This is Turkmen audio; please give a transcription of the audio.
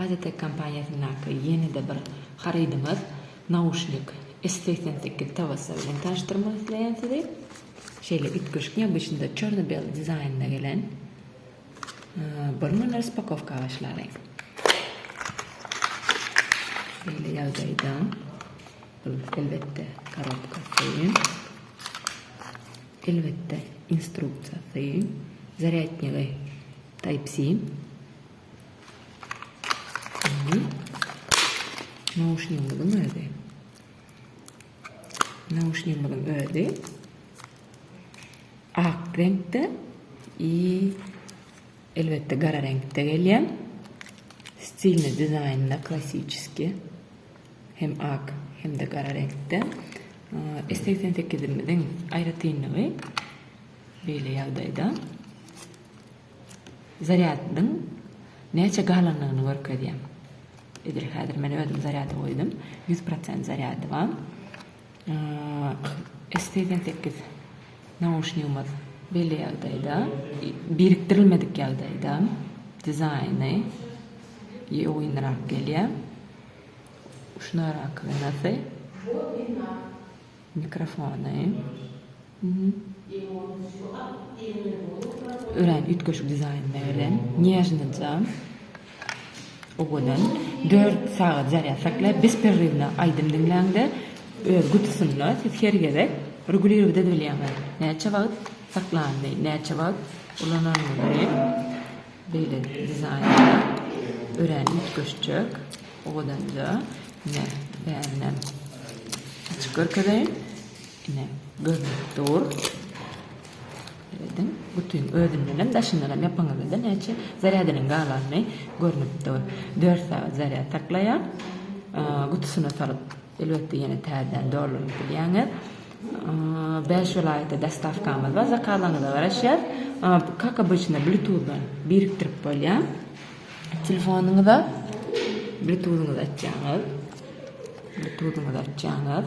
Azitek kompaniýasyndaky ýene-de bir harydymyz, nauşnik S segsen sekiz tabasy bilen tanyşdyrmak isleýän sizi. Şeýle üýtgeşik, neobýaçnyda çerno-bel dizaýnynda gelen. Bir gün raspakowka başlaly. Beýle ýagdaýda bu elbetde korobka söýün. Elbetde instruksiýa söýün. Zarýadnygy Type-C. Nauşnigimiziň özi. Nauşnigimiziň özi ak reňkde i elbetde gara reňkde gelýän. Stilni dizaýnda klassiçeski hem ak hem-de gara reňkde. S88-imiziň aýratynlygy beýle ýagdaýda. Zarýadyň näçe galandygyny görkezýär. Edil häzir men özüm zarýada goýdum. Ýüz prosent zarýady bar. S segsen sekiz nauşnigimiz belli ýagdaýda, birikdirilmedik ýagdaýda. Dizaýny ýowynrak gelýär. Uçna rakownasy. Mikrofony. Örän üýtgeşik dizaýnlar bilen nýežnoja owadan dört sagat zarýad saklaýar. Bespirriwna aýdym diňläňde öz gutusynda siz her gezek regulirować edip bilýäňiz. Näçe wagt saklandy, näçe wagt ulanandygyny beýle dizaýnda örän üýtgeşjek owadanja. Ine bärinden açyp görkezeýin. Ine, görnüp dur. Seredin, bütin özünden hem, daşyndan hem ýapyňyzda-da näçe zarýadynyň galany görnüp dur. Dört sagat zarýad saklaýar. Gutusyna salyp, elbetde, ýene täzeden dolduryp bilýäňiz. Bäş welaýata dostawkamyz bar, zakazyňyza garaşýar. Kak obyçnyda, blituzdan birikdirip bolýar. Telefonyňyza blituzyňyzy açýaňyz. Blituzyňyzy açýaňyz.